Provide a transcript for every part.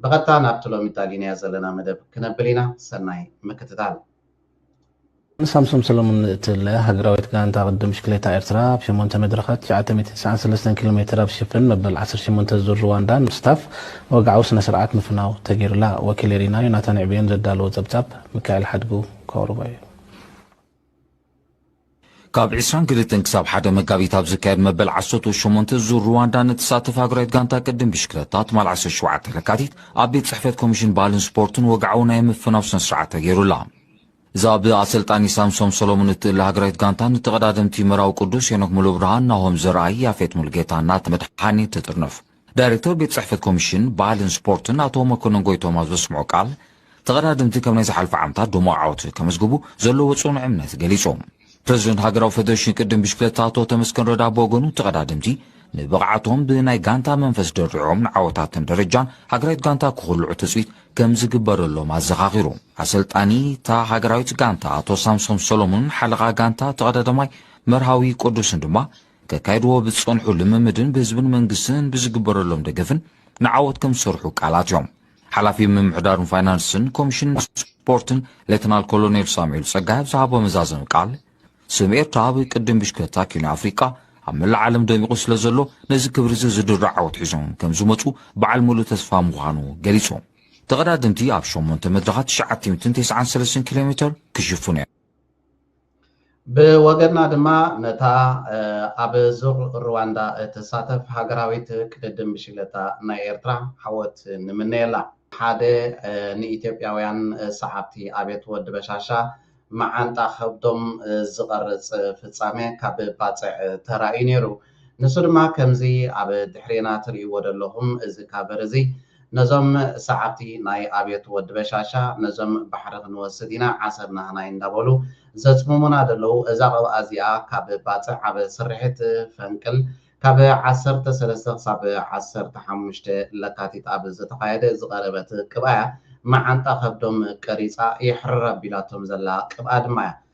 ብቐጥታ ናብቲ ሎሚ እዳሊናዮ ዘለና መደብ ክነብል ኢና ሰናይ ምክትታል። ሳምሶም ሰለሙን እትብለ ሃገራዊት ጋንታ ቅድድም ብሽክሌታ ኤርትራ ኣብ ሸሞንተ መድረኻት ትሽዓተ ሚእትን ትስዓን ሰለስተን ኪሎ ሜተር ኣብ ዝሽፍን መበል ዓሰርተ ሸሞንተ ዙር ሩዋንዳ ንምስታፍ ወግዓዊ ስነ-ስርዓት ምፍናው ተገይሩላ። ወኪል ኤሪና ዮናታን ዕብዮን ዘዳለዎ ጸብጻብ ሚካኤል ሓድጉ ከቕርቦ እዩ። ካብ ዕስራን ክልተን ክሳብ ሓደ መጋቢት ኣብ ዝካየድ መበል ዓሰርተ ሸሞንተ ዙር ሩዋንዳ ንትሳተፍ ሃገራዊት ጋንታ ቅድም ብሽክለታ ትማል ዓሰርተ ሸውዓተ ለካቲት ኣብ ቤት ጽሕፈት ኮሚሽን ባህልን ስፖርትን ወግዓዊ ናይ ምፍናው ስነ ስርዓት ተገይሩላ። እዛ ብኣሰልጣኒ ሳምሶም ሰሎሞን እትእለ ሃገራዊት ጋንታ ንተቐዳደምቲ መራዊ ቅዱስ፣ ሄኖክ ሙሉብርሃን፣ ናሆም ዘርኣይ፣ ያፌት ሙሉጌታን ናቲ መድሓኔን ትጥርንፍ። ዳይረክተር ቤት ፅሕፈት ኮሚሽን ባህልን ስፖርትን ኣቶ መኮነን ጎይቶም ኣብ ዘስምዖ ቃል፣ ተቐዳደምቲ ካብ ናይ ዝሓልፉ ዓመታት ድሙቕ ዓወት ከመዝግቡ ዘለዎ ፅኑዕ እምነት ገሊፆም። ፕረዚደንት ሃገራዊ ፌደሬሽን ቅድድም ብሽክለታ ኣቶ ተመስገን ረዳ ብወገኑ ተቐዳደምቲ ንብቕዓቶም ብናይ ጋንታ መንፈስ ደሪዖም ንዓወታትን ደረጃን ሃገራዊት ጋንታ ክኹልዑ ትፅቢት ከምዝግበረሎም ኣዘኻኺሩ። ኣሰልጣኒ እታ ሃገራዊት ጋንታ ኣቶ ሳምሶም ሰሎሙንን ሓለቓ ጋንታ ተቐዳዳማይ መርሃዊ ቅዱስን ድማ ከካይድዎ ብዝጸንሑ ልምምድን ብህዝብን መንግስትን ብዝግበረሎም ደገፍን ንዓወት ከምዝሰርሑ ቃል ኣትዮም። ሓላፊ ምምሕዳርን ፋይናንስን ኮሚሽን ስፖርትን ሌተናል ኮሎኔል ሳሙኤል ጸጋይ ኣብ ዝሃቦ መዛዘሚ ቃል፣ ስም ኤርትራ ኣብ ቅድድም ብሽክለታ ኪኖ ኣፍሪቃ ኣብ መላእ ዓለም ደሚቑ ስለዘሎ ነዚ ክብሪ'ዚ ዝድርዕ ዓወት ሒዞም ከምዝመጹ በዓል ምሉእ ተስፋ ምዃኑ ገሊጹ። ተቐዳደምቲ ኣብ ሸሞንተ መድረኻት ትሽዓተ ሚእትን ተስዓን ሰለስተን ኪሎ ሜተር ክሽፍኑ እዮም። ብወገና ድማ ነታ ኣብ ዙር ሩዋንዳ እትሳተፍ ሃገራዊት ቅድድም ብሽግለታ ናይ ኤርትራ ዓወት ንምነየላ። ሓደ ንኢትዮጵያውያን ሰዓብቲ ኣብየት ወዲ በሻሻ መዓንጣ ከብዶም ዝቐርጽ ፍጻሜ ካብ ባጽዕ ተራእዩ ነይሩ። ንሱ ድማ ከምዚ ኣብ ድሕሬና ትርእይዎ ደለኹም እዚ ካቨር እዚ ነዞም ሰዓብቲ ናይ ኣብዮት ወዲ በሻሻ ነዞም ባሕሪ ክንወስድ ኢና ዓሰብ ናህናይ እንዳበሉ ዘጽምሙና ደለዉ እዛ ቅብኣ እዚኣ ካብ ባጽዕ ኣብ ስርሒት ፈንቅል ካብ ዓሰርተ ሰለስተ ክሳብ ዓሰርተ ሓሙሽተ ለካቲት ኣብ ዝተኻየደ ዝቀረበት ቅብኣያ መዓንጣ ከብዶም ቀሪጻ የሕርር ኣቢላቶም ዘላ ቅብኣ ድማያ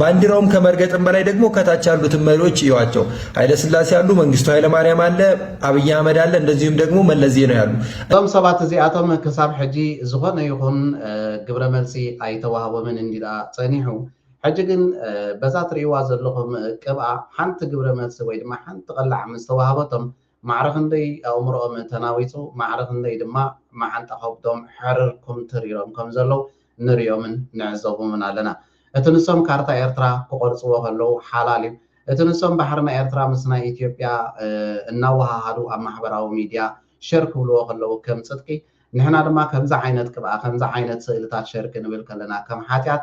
ባንዲራውም ከመርገጥም በላይ ደግሞ ከታች ያሉትን መሪዎች እዩዋቸው። ኃይለስላሴ አሉ፣ መንግስቱ ኃይለማርያም አለ፣ አብይ አህመድ አለ፣ እንደዚሁም ደግሞ መለስ ዜናዊ አሉ። እዞም ሰባት እዚኣቶም ክሳብ ሕጂ ዝኾነ ይኹን ግብረ መልሲ ኣይተዋህቦምን እንድዩ ደኣ ጸኒሑ። ሕጂ ግን በዛ ትርእይዋ ዘለኹም ቅብኣ ሓንቲ ግብረ መልሲ ወይ ድማ ሓንቲ ቐላዕ ምስ ተዋህበቶም ማዕረ ክንደይ ኣእምሮኦም ተናዊጹ፣ ማዕረ ክንደይ ድማ መዓንጣ ከብዶም ሕርር ኩምትር ኢሎም ከም ዘለዉ ንርእዮምን ንዕዘቦምን ኣለና። እቲ ንሶም ካርታ ኤርትራ ክቖርጽዎ ከለዉ ሓላል እዩ። እቲ ንሶም ባሕሪ ናይ ኤርትራ ምስ ናይ ኢትዮጵያ እናወሃሃዱ ኣብ ማሕበራዊ ሚድያ ሸር ክብልዎ ከለዉ ከም ጽድቂ፣ ንሕና ድማ ከምዚ ዓይነት ቅብኣ፣ ከምዚ ዓይነት ስእልታት ሸር ክንብል ከለና ከም ሓጢኣት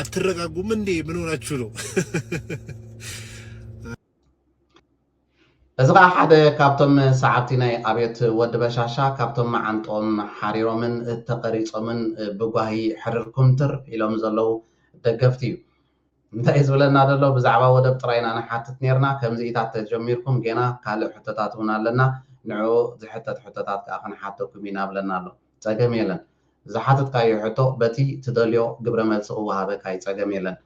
አትረጋጉም እንዴ? ምን ሆናችሁ ነው? እዚ ከዓ ሓደ ካብቶም ሰዓብቲ ናይ ኣብዮት ወዲ በሻሻ ካብቶም መዓንጦም ሓሪሮምን ተቐሪፆምን ብጓሂ ሕርር ኩምትር ኢሎም ዘለዉ ደገፍቲ እዩ እንታይ ዝብለና ዘሎ ብዛዕባ ወደብ ጥራይ ኢና ንሓትት ነርና ከምዚኢታት ተጀሚርኩም ጌና ካልእ ሕቶታት እውን ኣለና ንዕኡ ዝሕተት ሕቶታት ከዓ ክንሓተኩም ኢና ብለና ኣሎ ጸገም የለን ዝሓተትካዮ ሕቶ በቲ ትደልዮ ግብረ መልሲ ክወሃበካ ዩ ጸገም የለን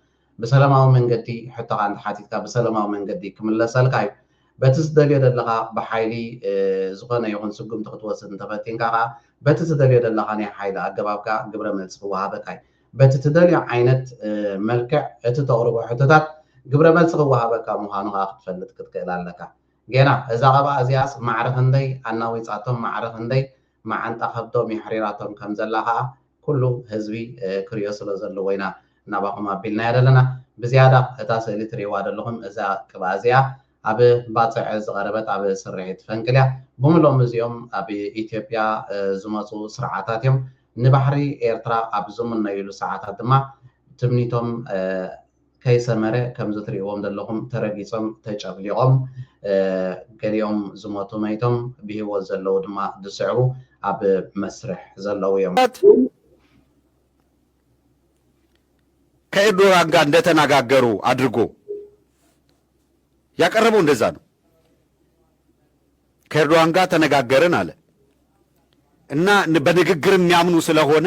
ብሰለማዊ መንገዲ ሕቶኻ እንተሓቲትካ ብሰለማዊ መንገዲ ክምለሰልካ ዩ በቲ ዝደልዮ ደለኻ ብሓይሊ ዝኾነ ይኹን ስጉምቲ ክትወስድ እንተፈቲንካ ከኣ በቲ ትደልዮ ደለኻ ናይ ሓይሊ ኣገባብ ከኣ ግብረ መልሲ ክወሃበካ ዩ በቲ ትደልዮ ዓይነት መልክዕ እቲ ተቕርቦ ሕቶታት ግብረ መልሲ ክወሃበካ ምዃኑ ከኣ ክትፈልጥ ክትክእል ኣለካ ጌና እዛ ቀብኣ እዚኣስ ማዕረ ክንደይ ኣናዊጻቶም ማዕረ ክንደይ መዓንጣ ከብዶም የሕሪራቶም ከም ዘላ ከኣ ኩሉ ህዝቢ ክሪኦ ስለ ዘለዎ ኢና ናባኹም ኣቢልናያ ዘለና። ብዝያዳ እታ ስእሊ ትሪእዋ ደለኹም እዛ ቅብኣ እዚኣ ኣብ ባጽዕ ዝቐረበት ኣብ ስርሒት ፈንቅል እያ። ብምሎም እዚኦም ኣብ ኢትዮጵያ ዝመጹ ስርዓታት እዮም። ንባሕሪ ኤርትራ ኣብ ዝምነዩሉ ሰዓታት ድማ ትምኒቶም ከይሰመረ ከምዚ ትሪእዎም ዘለኹም ተረጊጾም ተጨፍሊቖም ገሊኦም ዝሞቱ መይቶም ብሂወት ዘለዉ ድማ ዝስዕቡ ኣብ መስርሕ ዘለዉ እዮም። ከኤርዶጋን ጋር እንደተነጋገሩ ኣድርጎ ያቀረበው እንደዛ ነው። ከኤርዶጋን ጋር ተነጋገርን አለ እና በንግግር የሚያምኑ ስለሆነ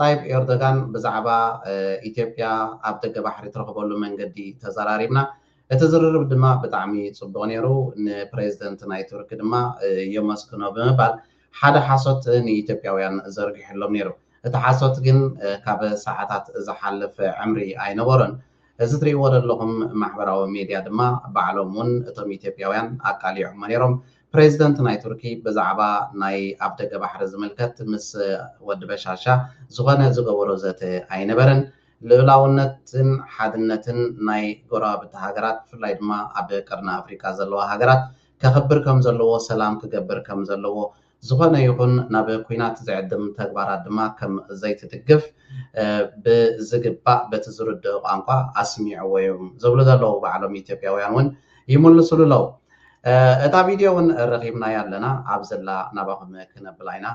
ጣይብ ኤርዶጋን ብዛዕባ ኢትዮጵያ ኣብ ደገ ባሕሪ ትረኽበሉ መንገዲ ተዘራሪብና። እቲ ዝርርብ ድማ ብጣዕሚ ጽቡቕ ነይሩ። ንፕሬዝደንት ናይ ቱርኪ ድማ የመስግኖ ብምባል ሓደ ሓሶት ንኢትዮጵያውያን ዘርጊሑሎም ነይሩ። እቲ ሓሶት ግን ካብ ሰዓታት ዝሓልፍ ዕምሪ ኣይነበሮን። እዚ ትሪእዎ ዘለኹም ማሕበራዊ ሚድያ ድማ ባዕሎም እውን እቶም ኢትዮጵያውያን ኣቃሊዖሞ ነይሮም። ፕሬዚደንት ናይ ቱርኪ ብዛዕባ ናይ ኣፍ ደገ ባሕሪ ዝምልከት ምስ ወዲ በሻሻ ዝኾነ ዝገበሮ ዘተ ኣይነበረን። ልኡላውነትን ሓድነትን ናይ ጎረባብቲ ሃገራት ብፍላይ ድማ ኣብ ቀርኒ ኣፍሪቃ ዘለዋ ሃገራት ከኽብር ከምዘለዎ ሰላም ክገብር ከምዘለዎ ዝኾነ ይኹን ናብ ኩናት ዝዕድም ተግባራት ድማ ከም ዘይትድግፍ ብዝግባእ በቲ ዝርድኦ ቋንቋ ኣስሚዕዎ'ዩ ዝብሉ ዘለዉ ባዕሎም ኢትዮጵያውያን ውን ይምልሱሉ ኣለው እታ ቪድዮ እውን ረኺብናያ ኣለና ኣብ ዘላ ናባኹም ክነብላ ኢና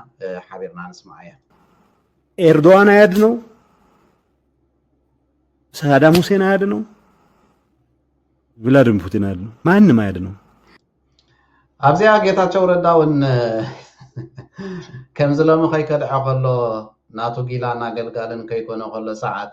ሓቢርና ንስማዓ እያ ኤርዶዋን ኣያድነው ሳዳም ሁሴን አያድነው፣ ቭላድሚር ፑቲን አያድነው፣ ማንም አያድነው። ኣብዚኣ ጌታቸው ረዳ እውን ከምዚ ሎሚ ከይከድዐ ከሎ ናቱ ጊላን ኣገልጋልን ከይኮነ ከሎ ሰዓት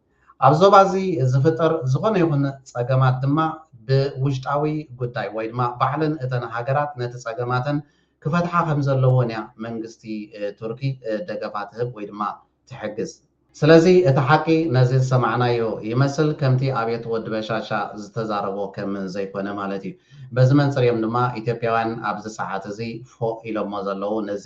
ኣብ ዞባ እዚ ዝፍጠር ዝኾነ ይኹን ጸገማት ድማ ብውሽጣዊ ጉዳይ ወይ ድማ ባዕለን እተን ሃገራት ነቲ ጸገማተን ክፈትሓ ከምዘለዎን እያ መንግስቲ ቱርኪ ደገፋ ትህብ ወይ ድማ ትሕግዝ። ስለዚ እቲ ሓቂ ነዚ ዝሰማዕናዮ ይመስል ከምቲ ኣብየት ወዲ በሻሻ ዝተዛረቦ ከም ዘይኮነ ማለት እዩ። በዚ መንጽር እዮም ድማ ኢትዮጵያውያን ኣብዚ ሰዓት እዚ ፎእ ኢሎሞ ዘለዉ ነዚ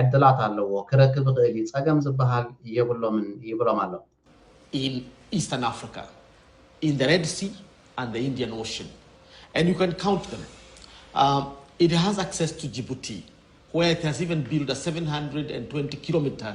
ዕድላት ኣለዎ ክረክብ ይኽእል እዩ ፀገም ዝበሃል የብሎምን ይብሎም ኣሎ። ኢን ኢስተርን ኣፍሪካ ኢን ዘ ሬድ ሲ ኣንድ ዘ ኢንዲያን ኦሽን ኣንድ ዩ ካን ካውንት ዘም ኢት ሃዝ ኣክሰስ ቱ ጂቡቲ ዌር ኢት ሃዝ ኢቨን ቢልድ አ ሰቨን ሃንድረድ ኤንድ ትወንቲ ኪሎ ሚተር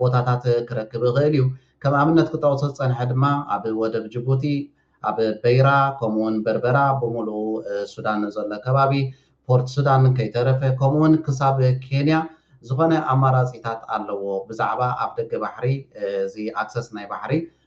ቦታታት ክረክብ ይኽእል እዩ። ከም ኣብነት ክጠቕሶ ዝጸንሐ ድማ ኣብ ወደብ ጅቡቲ፣ ኣብ በይራ፣ ከምኡ'ውን በርበራ፣ ብምሉኡ ሱዳን ንዘሎ ከባቢ ፖርት ሱዳን ከይተረፈ፣ ከምኡ'ውን ክሳብ ኬንያ ዝኾነ ኣማራጺታት ኣለዎ። ብዛዕባ ኣፍደገ ባሕሪ እዚ ኣክሰስ ናይ ባሕሪ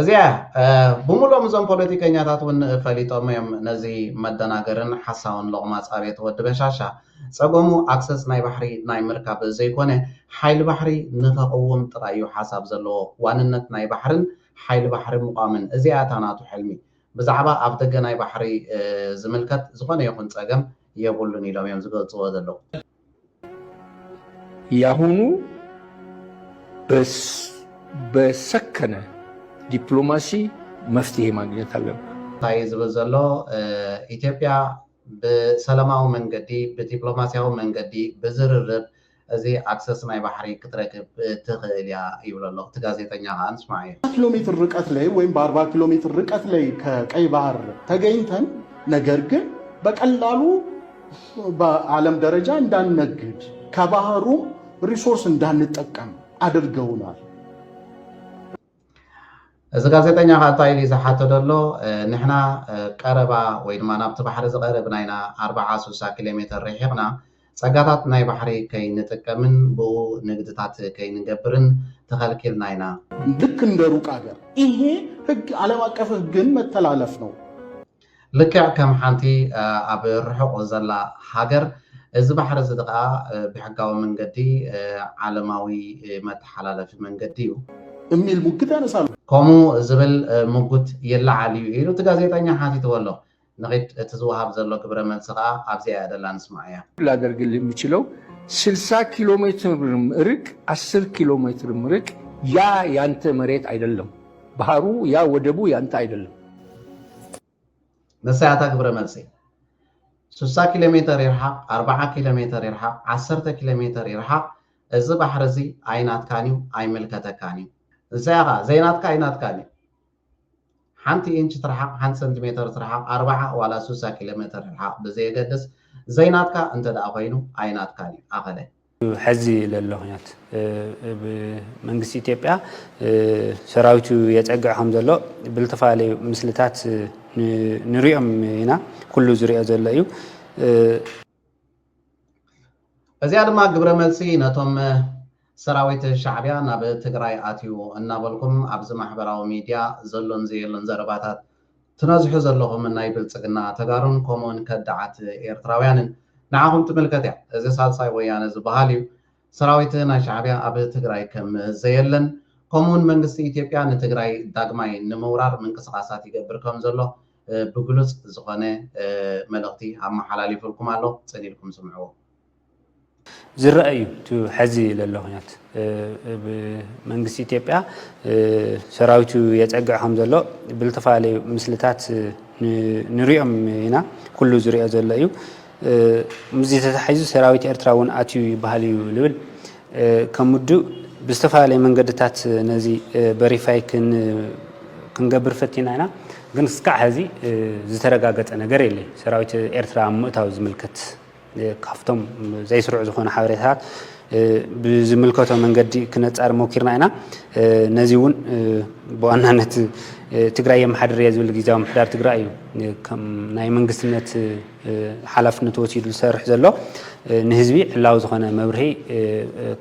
እዚኣ ብምሎም እዞም ፖለቲከኛታት እውን ፈሊጦም እዮም ነዚ መደናገርን ሓሳውን ሎቕማጽ ኣብየት ወዲ በሻሻ ጸገሙ ኣክሰስ ናይ ባሕሪ ናይ ምርካብ ዘይኮነ ሓይሊ ባሕሪ ንኸቕውም ጥራይ እዩ ሓሳብ ዘለዎ ዋንነት ናይ ባሕርን ሓይሊ ባሕሪ ምቋምን እዚኣ እታ ናቱ ሕልሚ ብዛዕባ ኣብ ደገ ናይ ባሕሪ ዝምልከት ዝኾነ ይኹን ጸገም የብሉን ኢሎም እዮም ዝገልጽዎ ዘለዉ ያሁኑ በሰከነ ዲፕሎማሲ መፍትሔ ማግኘት ኣለብን። እንታይ እዩ ዝብል ዘሎ? ኢትዮጵያ ብሰለማዊ መንገዲ፣ ብዲፕሎማሲያዊ መንገዲ፣ ብዝርርብ እዚ ኣክሰስ ናይ ባሕሪ ክትረክብ ትኽእል እያ ይብሎ ኣሎ። እቲ ጋዜጠኛ ከኣ ንስማዓዮ። ኪሎ ሜትር ርቀት ላይ ወይም በአርባ ኪሎ ሜትር ርቀት ላይ ከቀይ ባህር ተገኝተን ነገር ግን በቀላሉ በዓለም ደረጃ እንዳንነግድ ከባህሩም ሪሶርስ እንዳንጠቀም ኣድርገውናል። እዚ ጋዜጠኛ ከዓ እንታይ ኢሉ ዝሓቶ ዘሎ ንሕና ቀረባ ወይ ድማ ናብቲ ባሕሪ ዝቐርብ ናይና ኣርብዓ ስሳ ኪሎ ሜተር ርሒቕና ጸጋታት ናይ ባሕሪ ከይንጥቀምን ብኡ ንግድታት ከይንገብርን ተኸልኪልና ኢና። ልክ እንደ ሩቅ አገር ይሄ ህግ ዓለም አቀፍ ህግን መተላለፍ ነው። ልክዕ ከም ሓንቲ ኣብ ርሑቕ ዘላ ሃገር፣ እዚ ባሕሪ እዚ ከኣ ብሕጋዊ መንገዲ ዓለማዊ መተሓላለፊ መንገዲ እዩ። እሚል ሙግት ያነሳሉ። ከምኡ ዝብል ሙግት ይለዓል እዩ ኢሉ እቲ ጋዜጠኛ ሓቲትዎ ኣሎ። ንኺድ እቲ ዝወሃብ ዘሎ ግብረ መልሲ ከኣ ኣብዚኣ እያ ዘላ ንስምዓያ። ላደርግልህ የምችለው ስልሳ ኪሎሜትር ርቅ ኣስር ኪሎሜትርም ርቅ ያ ያንተ መሬት ኣይደለም። ባህሩ ያ ወደቡ ያ እንታይ ኣይደለም። መሳያታ ግብረ መልሲ ሱሳ ኪሎ ሜተር ይርሓቕ ኣርብዓ ኪሎ ሜተር ይርሓቕ ዓሰርተ ኪሎ ሜተር ይርሓቕ እዚ ባሕሪ እዚ ኣይናትካን እዩ ኣይምልከተካን እዩ እንሳይ ኸዓ ዘይናትካ ኣይናትካን እዩ ሓንቲ ኢንች ትርሓቕ ሓንቲ ሰንቲሜተር ትርሓቕ ኣርብዓ ዋላ ሱሳ ኪሎ ሜተር ይርሓቕ ብዘየገድስ ዘይናትካ እንተ ደኣ ኮይኑ ኣይናትካን እዩ ኣኸለ ሐዚ ለሎ ኹናት መንግስቲ ኢትዮጵያ ሰራዊቱ የፀግዕ ከም ዘሎ ብልተፈላለዩ ምስልታት ንሪኦም ኢና ኩሉ ዝሪኦ ዘሎ እዩ። እዚኣ ድማ ግብረ መልሲ ነቶም ሰራዊት ሻዕቢያ ናብ ትግራይ ኣትዩ እናበልኩም ኣብዚ ማሕበራዊ ሚድያ ዘሎን ዘየሎን ዘረባታት ትነዝሑ ዘለኹም ናይ ብልጽግና ተጋሩን ኮሙኡን ከዳዓት ኤርትራውያንን ንዓኹም ትምልከት እያ እዚ ሳልሳይ ወያነ ዝባሃል እዩ ሰራዊት ናይ ሻዕብያ ኣብ ትግራይ ከም ዘየለን ኮሙኡን መንግስቲ ኢትዮጵያ ንትግራይ ዳግማይ ንምውራር ምንቅስቃሳት ይገብር ከም ዘሎ ብግሉጽ ዝኾነ መልእኽቲ ኣማሓላሊፉልኩም ኣሎ ጽን ኢልኩም ስምዕዎ። ዝረኣ እዩ እቲ ሐዚ ለሎ ኩነት መንግስቲ ኢትዮጵያ ሰራዊቱ የፀግዕ ከምዘሎ ብልተፈላለዩ ምስልታት ንሪኦም ኢና ኩሉ ዝሪኦ ዘሎ እዩ ምስዚ ተታሒዙ ሰራዊት ኤርትራ እውን ኣትዩ ይበሃል እዩ ልብል ከም ውድብ ብዝተፈላለየ መንገድታት ነዚ በሪፋይ ክንገብር ፈቲና ኢና ግን እስካዕ ሐዚ ዝተረጋገፀ ነገር የለይ ሰራዊት ኤርትራ ምእታው ዝምልከት ካብቶም ዘይስሩዕ ዝኾኑ ሓበሬታታት ብዝምልከቶ መንገዲ ክነፃር ሞኪርና ኢና። ነዚ እውን ብዋናነት ትግራይ የመሓድር እየ ዝብል ግዜያዊ ምሕዳር ትግራይ እዩ ከም ናይ መንግስትነት ሓላፍነት ወሲዱ ዝሰርሕ ዘሎ ንህዝቢ ዕላዊ ዝኾነ መብርሂ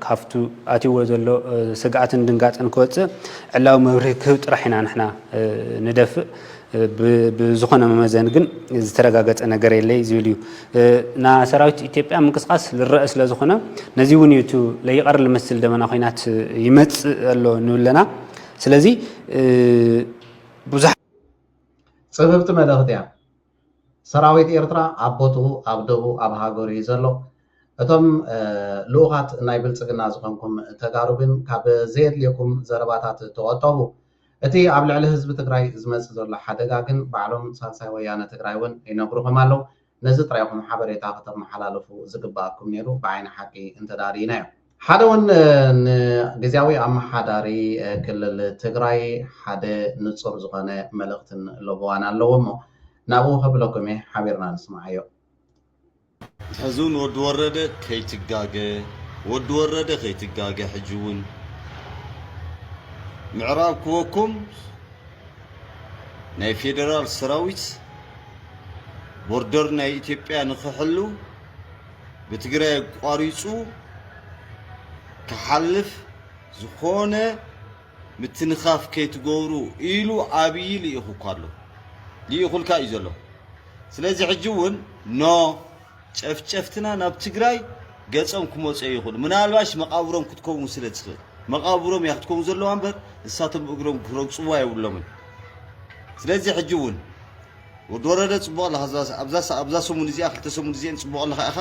ካብቱ ኣትይዎ ዘሎ ስግኣትን ድንጋፅን ክወፅእ ዕላዊ መብርሂ ክህብ ጥራሕ ኢና ንሕና ንደፍእ ብዝኾነ መመዘኒ ግን ዝተረጋገፀ ነገር የለይ ዝብል እዩ ና ሰራዊት ኢትዮጵያ ምንቅስቃስ ልረአ ስለ ዝኾነ ነዚ እውን እዩ ለይቀር ልመስል ደመና ኮይናት ይመፅእ ኣሎ ንብለና ስለዚ ብዙሕ ፅብብቲ መልእኽቲ እያ ሰራዊት ኤርትራ ኣብ ቦትኡ ኣብ ደቡ ኣብ ሃገሩ እዩ ዘሎ እቶም ልኡኻት ናይ ብልፅግና ዝኾንኩም ተጋሩ ግን ካብ ዘየድልየኩም ዘረባታት ተቆጠቡ እቲ ኣብ ልዕሊ ህዝቢ ትግራይ ዝመፅእ ዘሎ ሓደጋ ግን ባዕሎም ሳልሳይ ወያነ ትግራይ እውን ይነግሩኹም ኣለው። ነዚ ጥራይ ኢኹም ሓበሬታ ክተመሓላልፉ ዝግበኣኩም ነይሩ ብዓይኒ ሓቂ እንተድኣ ርኢናዮ። ሓደ እውን ንግዝያዊ ኣመሓዳሪ ክልል ትግራይ ሓደ ንፁር ዝኾነ መልእኽትን ለበዋን ኣለዎ እሞ ናብኡ ከብለኩም እየ ሓቢርና ንስምዓዮ። ሕዚ ውን ወዲ ወረደ ከይትጋገ ወዲ ወረደ ከይትጋገ ሕጂ ውን ምዕራብ ክወኩም ናይ ፌደራል ሰራዊት ቦርደር ናይ ኢትዮጵያ ንክሕሉ ብትግራይ ኣቋሪፁ ክሓልፍ ዝኾነ ምትንኻፍ ከይትገብሩ ኢሉ ኣብዪ ልኢኹኳ ኣሎ ልኢኹልካ እዩ ዘሎ ስለዚ ሕጂ እውን ን ጨፍጨፍትና ናብ ትግራይ ገፆም ክመፁ ኣይኽእሉ ምናልባሽ መቓብሮም ክትከውን ስለ ትኽእል መቓብሮም እያ ክትከውን ዘለዋ እምበር ንሳቶም እግሮም ክረግፅዋ የብሎምን ስለዚ ሕጂ እውን ወዲ ወረደ ጽቡቅ ኣለኻ እዛ ኣብዛ ኣብዛ ሰሙን እዚኣ ክልተ ሰሙን እዚኤን ጽቡቅ ኣለኻ ኢኻ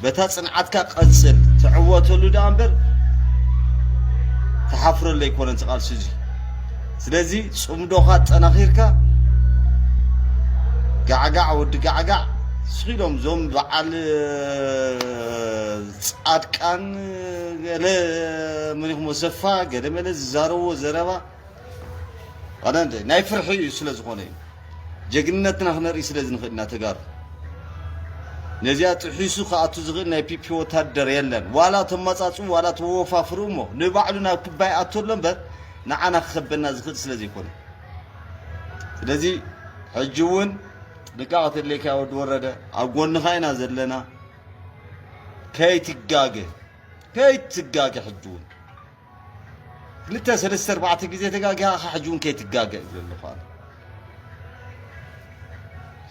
በታ ጽንዓትካ ቀጽል ትዕወተሉ ደኣ እምበር ትሓፍረሉ ኣይኮነን እቲ ቃልሲ እዚ ስለዚ ጽምዶኻ ኣጠናኺርካ ጋዕጋዕ ወዲ ጋዕጋዕ እስኺ ኢሎም እዞም በዓል ጻድቃን ገለ መን ኢኹም ወሰፋ ገለ መለ ዝዛረብዎ ዘረባ ኣነንደ ናይ ፍርሒ እዩ ስለ ዝኾነ እዩ ጀግንነትና ክነርኢ ስለ ዝንኽእል ኢና ተጋሩ ነዚኣ ጥሒሱ ክኣቱ ዝኽእል ናይ ፒፒ ወታደር የለን ዋላ ተመጻጽኡ ዋላ ተወፋፍሩ እሞ ንባዕሉ ናብ ክባ ይኣቶ ኣሎ እምበር ንዓና ክኸበና ዝኽእል ስለ ዘይኮነ ስለዚ ሕጂ እውን ጥንቃቐ ተድሌካ ወዲ ወረደ ኣብ ጎንኻ ኢና ዘለና ከይትጋገ ከይትጋገ ሕጂ እውን ክልተ ሰለስተ ኣርባዕተ ግዜ ተጋጊኻ ከ ሕጂ እውን ከይትጋገ እብሎ ኣለኹ ኣነ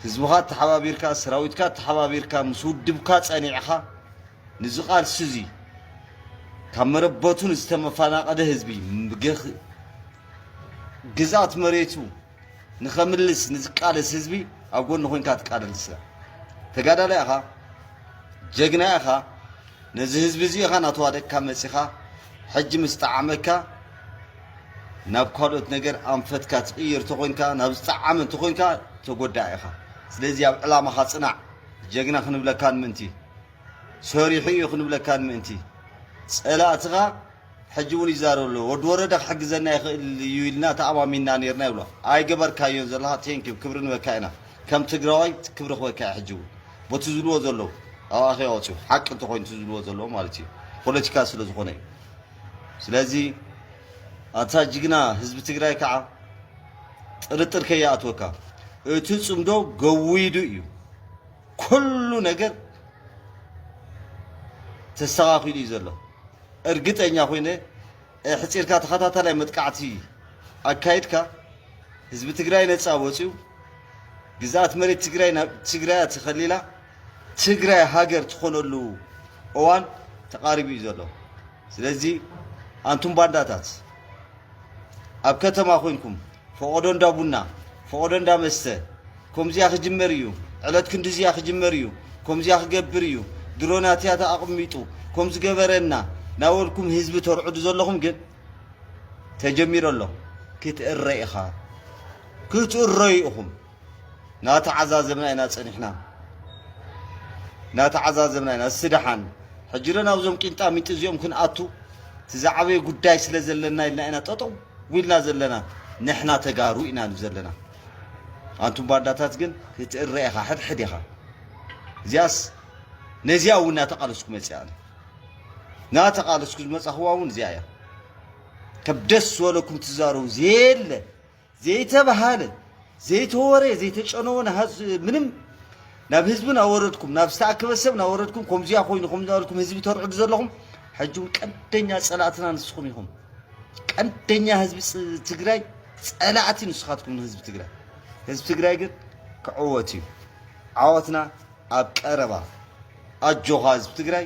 ህዝብኻ ተሓባቢርካ ሰራዊትካ ተሓባቢርካ ምስ ውድብካ ጸኒዕኻ ንዚ ቃልሲ እዚ ካብ መረበቱ ንዝተመፈናቐለ ህዝቢ ግዝኣት መሬቱ ንኸምልስ ንዝቃለስ ህዝቢ ኣብ ጎኑ ኮንካ ትቃለልሰ ተጋዳላይ ኢኻ ጀግና ኢኻ ነዚ ህዝቢ እዚ ኢኻ ናተዋደቅካ መጺኻ ሕጂ ምስ ጠዓመካ ናብ ካልኦት ነገር ኣንፈትካ ትቕይር ተኾንካ ናብ ዝጠዓመ እንተኾንካ ተጎዳእ ኢኻ ስለዚ ኣብ ዕላማኻ ጽናዕ ጀግና ክንብለካን ምእንቲ ሰሪሑ እዩ ክንብለካን ምእንቲ ጸላእትኻ ሕጂ ውን ይዛረብ ኣሎ ወዲ ወረደ ክሕግዘና ይኽእል እዩ ኢልና ተኣማሚንና ኔርና ይብሎ ኣይገበርካዮን ዘለኻ thank you ክብሪ ንበካ ኢና ከም ትግራዋይ ክብሪ ክበካ እየ ሕጂ ውን ቦቲ ዝብልዎ ዘለው ኣብ ኣኼባ ወጽዩ ሓቂ እንተኾይኑ እቲ ዝብልዎ ዘለው ማለት እዩ ፖለቲካ ስለ ዝኾነ እዩ ስለዚ ኣታ ጅግና ህዝቢ ትግራይ ከዓ ጥርጥር ከይኣትወካ እቲ ጽምዶ ገዊዱ እዩ ኩሉ ነገር ተስተኻኺሉ እዩ ዘሎ እርግጠኛ ኮይነ ኣሕፂርካ ተኸታታላይ መጥቃዕቲ ኣካይድካ ህዝቢ ትግራይ ነፃ ወፅዩ ግዝኣት መሬት ትግራይ ናብ ትግራያ ተኸሊላ ትግራይ ሃገር ትኾነሉ እዋን ተቓሪቡ እዩ ዘሎ። ስለዚ ኣንቱም ባንዳታት ኣብ ከተማ ኮንኩም ፎቆዶ እንዳ ቡና ፎቆዶ እንዳ መስተ ኮምዚኣ ክጅመር እዩ ዕለት ክንድዚያ ክጅመር እዩ ኮምዚያ ክገብር እዩ ድሮናትያ ተኣቅሚጡ ኮምዝገበረ እና ናበልኩም ህዝቢ ተርዕዱ ዘለኹም ግን ተጀሚሩ ኣሎ ክትእረ ኢኻ ክትእረዩ ኢኹም። ናተዓዛዘብና ኢና ጸኒሕና ናተዓዛዘብና ኢና እስቲ ደሓን ሕጂ ዶ ናብዞም ቂንጣሚንጢ እዚኦም ክንኣቱ እቲ ዝዓበየ ጉዳይ ስለ ዘለና ኢልና ኢና ጠጠው ኢልና ዘለና ንሕና ተጋሩ ኢና ንብ ዘለና ኣንቱም ባንዳታት ግን ክትእረ ኢኻ ሕድሕድ ኢኻ እዚኣስ ነዚኣ እውን ናተቓለስኩ መፅኣ ኣነ ናተቓለስኩ ዝመፃኽዋ እውን እዚኣ እያ ከብ ደስ ዝበለኩም ትዛረቡ ዘየለ ዘይተብሃለ ዘይተወሬ ዘይተጨነወ ንሃዝ ምንም ናብ ህዝቢ ናወረድኩም ናብ ዝተኣከበ ሰብ ናወረድኩም ከምዚያ ኮይኑ ከም ዝበልኩም ህዝቢ ተርዕዱ ዘለኹም ሕጂ እውን ቀንደኛ ጸላእትና ንስኹም ኢኹም። ቀንደኛ ህዝቢ ፅ- ትግራይ ጸላእቲ ንስኻትኩም ንህዝቢ ትግራይ። ህዝቢ ትግራይ ግን ክዕወት እዩ። ዓወትና ኣብ ቀረባ። ኣጆኻ ህዝቢ ትግራይ